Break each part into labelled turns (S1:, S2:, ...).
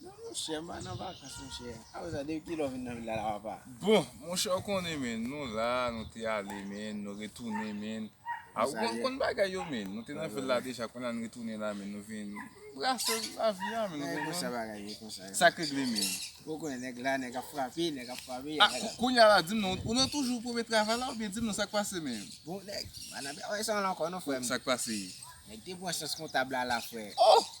S1: Non monchè mpa
S2: nan vakans monchè. Apre sa depi kilè w vin nan vil la la papa. Bon monchè w
S1: konnen menn nou la nou te ale menn nou retounen menn a ou konn konn bagay yo menn nou te nan vil la deja kounya nou retounen la menn nou vin brase lavi a menn ou konprann. Konsa bagay ye
S2: konsa. Sak regle menn.
S1: Ou konnen nèg la
S2: nèg ap frape nèg ap frape. A kounya
S1: la dim non ou nan toujou premye travay la oubyen dim non sak pase menm. Bon nèg mpa nan
S2: travay sa ankò non frè m. Sak pase? Nèg
S1: te pran chans
S2: kontab la la frè. Oh!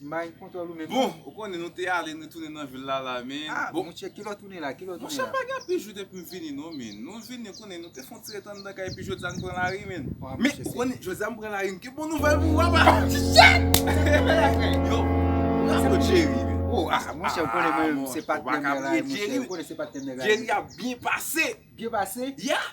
S2: Imaj kontwòl ou menm non. Bon, ou konnen nou te
S1: ale nou retounen nan vil la la men. Ah bon monchè kilè w tounen
S2: la, kilè w tounen la? Monchè pa gen anpil jou
S1: depi m vini non men. Nou vini konnen nou te fon ti ret anndan kay epi jodi a nou pran lari men. Men ou konnen jodi a m pran lari m gen bon nouvèl pou ou apa. Yo, nan kot Jerry men. Oh ah monchè
S2: ou konnen mwen se patnè m nan la monchè. Ou konnen
S1: se patnè m nan
S2: la. Jerry ap byen
S1: pase. Byen pase?
S2: Yeah!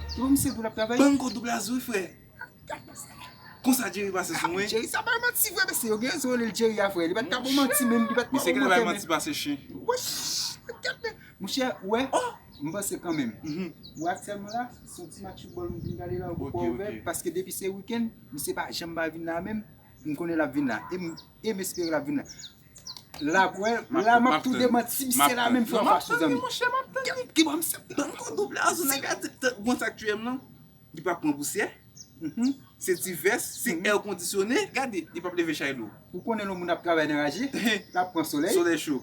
S2: Banm kod ou blaze wi frè.
S1: Konsa Jerry pase sou mwen. Jerry sa bay manti vre
S2: mesye yo gen rezon rele Jerry a frè li pat ka bon manti menm li pat Mesye kile bay manti pase
S1: chen.
S2: Monchè ou wè m panse kanmenm ou wè aktyèlman la son ti match foutbòl m vin gade la ou gen pò ouvè paske depi se wikenn misye pa janm pa vin la menm M konnen lap vin la e m espere lap vin la la kwè la map tou demanti si misye la menm fè yon fwa sou zanmi. Bann
S1: kodo blazo nèg la ou konn sak tuyem non li pap pran pousyè se ti vès se èr kondisyone gade li pap leve chay lou ou konnen lè yon moun ap travay
S2: nan raje lap pran solèy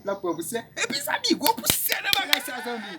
S2: lap pran pousyè epi zanmi gwo pousyè nan bagay sa zanmi.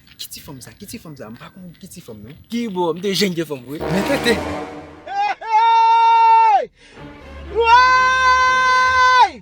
S2: Ki ti fanm sa? Ki ti fanm
S3: sa? M
S2: pa konn
S3: ki
S2: ti fanm non.
S3: Ki
S2: bo,
S3: m
S2: te jèn
S3: gen fanm
S2: vre. Men
S3: tete!
S2: Hey! Hey! Woyy!